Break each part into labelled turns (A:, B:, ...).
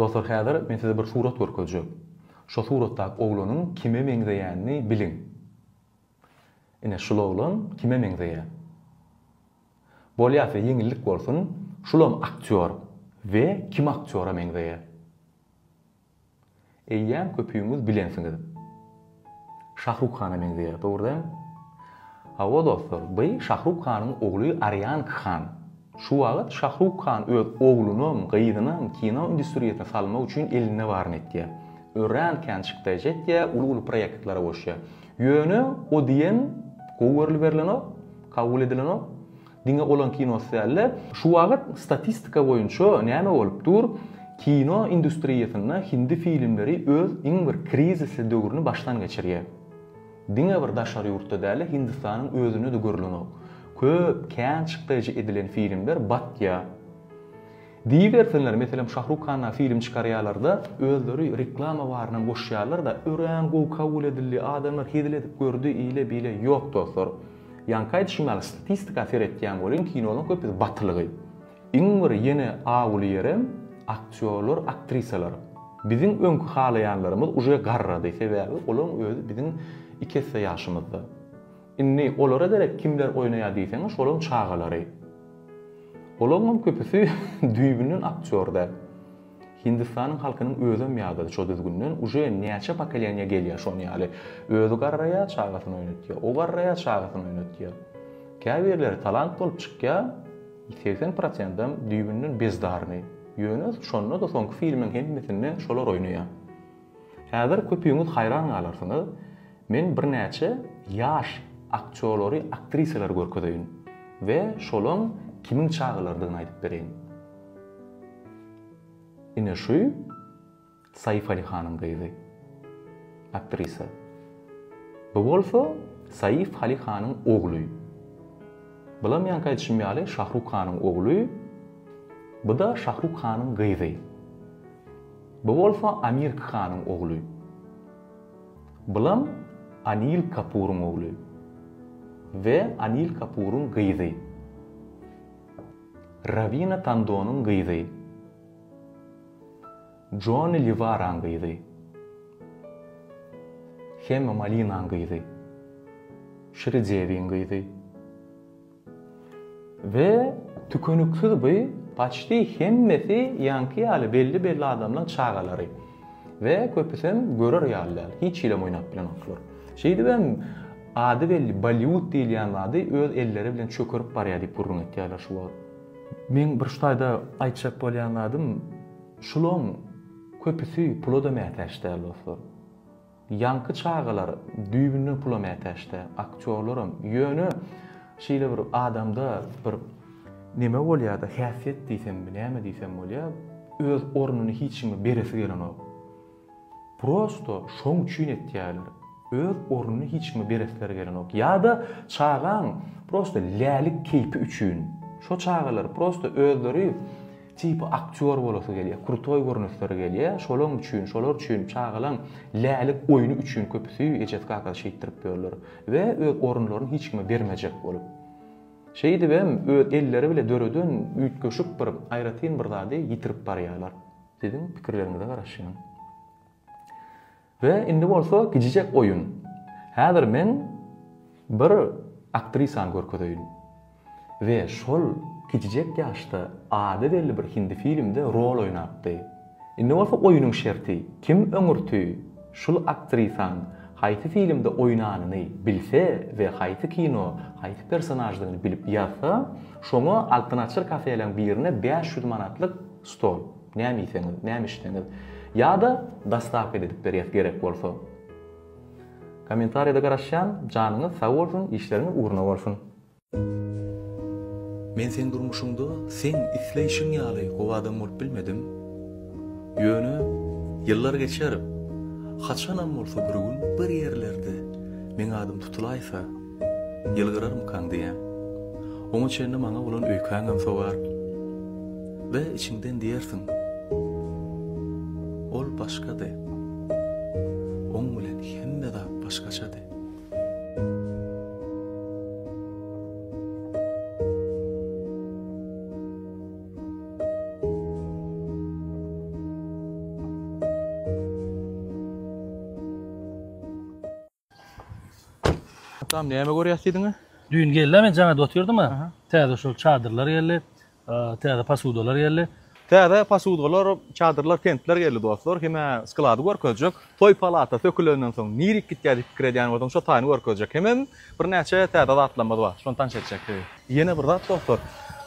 A: Dostlar häzir men size bir surat görkezjek. Şo suratdaky oglanyň kime meňzeýänini biliň. Ine şul oglan kime meňzeýär? Bolýar size ýeňillik bolsun, şulam aktýor we kim aktýora meňzeýär? Eýýäm köpüňiz bilensiňiz. Şahruk hana meňzeýär, dogry däl? Hawa dostlar, by Şahruk hanyň ogly Arýan Khan. Şu wagyt Şahruk Khan öz oglunam, gyzynam kino industriýasyna salmak üçin elinde baryny etýär. Örän kän çykdaýjy etýär, uly-uly proýektlere goşýar. Ýöne o diýen gowy görlüberilenok, kabul edilenok. Diňe olan kinosy dälde, şu wagyt statistika boýunça näme bolup dur, kino industriýasynda hindi filmleri öz iň bir krizisli döwrüni başdan geçirýär. Diňe bir daşary ýurtda dälde Hindistanyň özünde-de görlenok. Köp kän çykdajy edilen filmler batýar. Diýibersinler, meselem Şahruk Hanna film çykarýalarda özleri reklama barynam goşýarlarda örän gowy kabul edildi, adamlar hezil edip gördi, ile bile ýok dostlar. Ýaňky aýdyşym ýaly statistika seretýän boluň kinolaň köpüsi batylygy. Iň bir ýene awuly ýerem aktýorlar, aktrisalar. Biziň öňki halaýanlarymyz uje garrady, sebäbi olaň özi biziň iki esse ýaşymyzda. Indi olara derek kimler oýnaýar diýseňiz şolaň çagalary. Olaňam köpüsi düýbünden aktýorda. Hindistanyň halkynyň özem ýadady şo düzgünden uje näçe pokoleniýa gelýär şon ýaly. Özi garraýar çagasyny oýnatýar. O garraýar çagasyny oýnatýar. Käbirleri talant bolup çykýar segsen prosentam düýbünden bezdarny. Ýöne şonda da soňky filmiň hemmesinde şolar oýnaýar. Häzir köpüňiz haýran galarsyňyz Men birnäçe ýaş aktýolary, aktrisalary görkezeýin we şolaň kimiň çagalarydygyny aýdyp bereýin. Ine şu Saýyfaly hanyň gyzy. Aktrisa. Bu bolsa Saýyf Haly hanyň ogly. Bulam ýaňky aýdyşym ýaly Şahruk hanyň ogly. Bu-da Şahruk hanyň gyzy. Bu bolsa Amirk hanyň ogly. Bulam Anil Kapuryň ogly we Anil Kapuryň gyzy. Rawina Tandonyň gyzy. Joni Liwaraň gyzy. Hema Malinaň gyzy. Şri Dewiň gyzy. We tükeniksiz by paçti hemmesi ýaňky ýaly belli belli adamlaň çagalary. We köpüsem görer ýaly däl, hiç hilem oýnap bilenoklar. Şeýdibem ady belli Bollywood diýilýän zady öz elleri bilen çökerip barýar diýip gürrüň etýärler şu wagt. Meň bir şu taýda aýtjak bolýan zadym şulaň köpüsi pula-da mätäç däl dostlar. Ýaňky çagalar düýbünden pula mätäçdä, aktýorlaram. Ýöne şeýle bir adamda bir neme bolýar-da, häsiýet diýsemmi, näme diýsem bolýar, öz ornuny hiç kime beresi gelenok. Prosto şoň üçin etýärler. Öz ornuny hiç kime beresleri gelenok. Ýa-da çagaň prosto lälik keýpi üçin. Şo çagalar prosto özleri Tipi aktýor bolasy gelýär, krutoý görünesleri gelýär, şolaň üçin, şolar üçin çagalaň lälik oýny üçin köpi süýi ejesi kakasy şeýtdirip ýörler we öz orunlaryny hiç kime bermejek bolup. Şeýdibem öz elleri bile döreden üýtgeşik bir aýratyn bir zady ýitirip barýarlar. Siziň pikirleriňize garaşýan. We indi bolsa gijijek oýun. Häzir men bir aktrisany görkezeýin. We şol gijijek ýaşda ady belli bir hindi filmde rol oýnapdy. Indi bolsa oýunyň şerti, kim öňürti şul aktrisaň haýsy filmde oýnanyny bilse we haýsy kino haýsy personaždygyny bilip ýazsa, şoňa Altyn Açyr kafeleň birine bäş ýüz manatlyk Stol. Näme iýseňiz, näme içseňiz. Ýa-da dostavka ededip berýäs gerek bolsa. Kommentariýada garaşýan, janyňyz sag bolsun, işleriňiz ugruna bolsun. Men seň durmuşyňda seň isleýşiň ýaly gowy adam bolup bilmedim. Ýöne ýyllar geçer, haçanam bolsa bir gün bir ýerlerde meň adym tutulaýsa, Ýylgyrarmykaň diýýän. Oňa çenli maňa bolan öýkäňem sogar we içiňden diýersiň, Ol başgady. Oň bilen hemme zat başgaçady. Atam näme görýäs diýdiňä? Düýn geldi-ä men
B: jaňada otyrdym-a. Täze şol çadyrlar geldi. Täze posudalar geldi. Täze posudalar,
A: çadyrlar, pentler geldi dostlar. Hem-ä sklady görkezjek. Toý palata sökülenden soň nirik gitýär diýip pikir edýän bolsaň şo taýyny görkezjek. Hemem birnäçe täze zatlarymyz bar. Şony tanyş etjek. Ýene bir zat dostlar.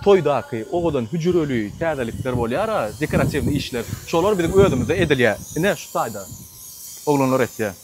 A: Toýdaky owadan hüjreli täzelikler bolýar-a, dekoratiwnyý işler. Şolar biziň özümizde edilýär. Ine şu taýda oglanlar etýär.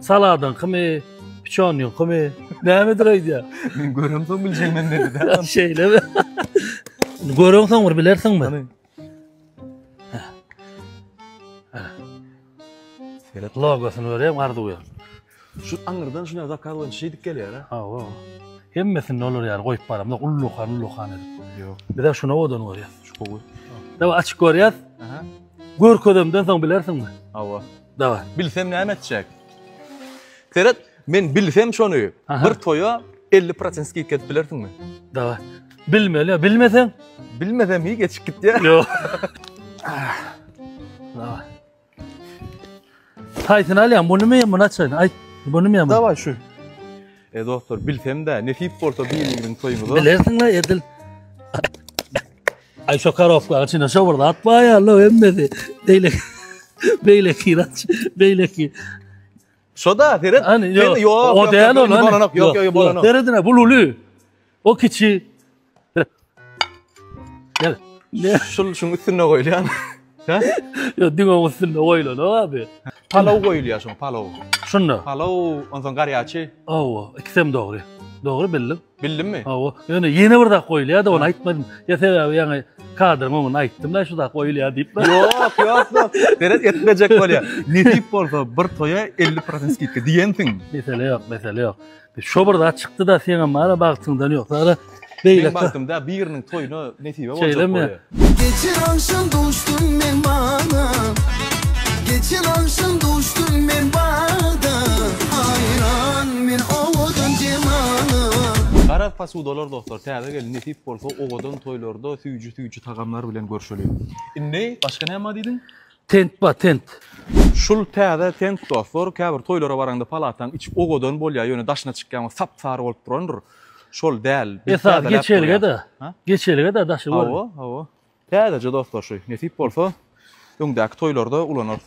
B: Saladyň kimi, piçonyň kimi, nämedir aýdýa. Men görem soň
A: biljek men dedi. Şeýle mi?
B: Görem soň bir bilersiň mi?
A: Seret logosyny görem
B: arzuw ýa. Şu
A: aňyrdan şuna zakaz boýunça şeýdip gelýär ha. Hawa.
B: Hemmesini olar ýaly goýup baramda ullukan ullukan edip. Ýok. Biz de şuna
A: odan
B: görýäs. Şu gowy.
A: Dawa açyk
B: görýäs. Aha.
A: Görkezemden
B: soň bilersiň mi? Hawa. Dawa,
A: bilsem
B: näme etjek?
A: Seret, men bilsem şony, bir toýa elli prosent skidka edip bilersiňmi? Dawa,
B: bilmeli, bilmeseň? Bilmesem hiý
A: geçip gitýär. Ýok.
B: Dawa. Haýsyny alýaň, munymy, muny açaýyn? Aýt, munymy, muny? Dawa, şu.
A: E, dostlar, bilsem-de, nesip bolsa, biriniň toýuňyza. Bilersiň-le, edil.
B: Ay şu karofka içine şu burada at var ya lo emmesi. Beyle beyle kiraç beyle ki.
A: Şu da seret. Hani yok. Yok o
B: değil o lan. Yok yok yok bolanok. Seredine
A: bu lulu.
B: O kiçi. Gel. Ne? Şul şun
A: üstüne koyulan. Hä? Ýok, diňe
B: üstünde goýulanok abi. Palaw goýulýar
A: şoň, palaw. Şunda. Palaw,
B: onsoň
A: garýaçy. Hawa, ikisem
B: dogry. Dogry bildim. Bildimmi? Hawa.
A: Ýöne ýene bir zat
B: goýulýar-da, ony aýtmadym. Ýa sebäbi ýaňy kadryň öňünde aýtdym-da şu zat goýulýar diýip. Ýok, ýok, ýok. Seret
A: etmejek bolýar. Nesip bolsa bir toýa 50% skidka diýensiň. Mesele ýok, mesele
B: ýok. Şo bir zat çykdy-da, seňem bar-a, bagtyňdan ýok. Zagra, beýle. Meň bagtymda biriniň
A: toýuna nesibe boljak. Şeýlemi? Geçen
B: agşam
C: duşdum men bagda, Geçen agşam duşdum men bagda, Haýran men owadan jemala. Garaz
A: posudalar dostlar täze gelin nesip bolsa owadan toýlarda süýji süýji tagamlar bilen görşeliň. Indi başga näma diýdiň? Tent ba tent.
B: Şul
A: täze tent dostlar käbir toýlara baraňda palataň içi owadan bolýa ýöne daşyna çykýaňda sap sary bolup durandyr. Şol däl. Esasy geçelge de. Geçelge
B: de daşy görün. Hawa hawa.
A: Täzeje dostlar şu nesip bolsa öňdäki toýlarda ulanarys.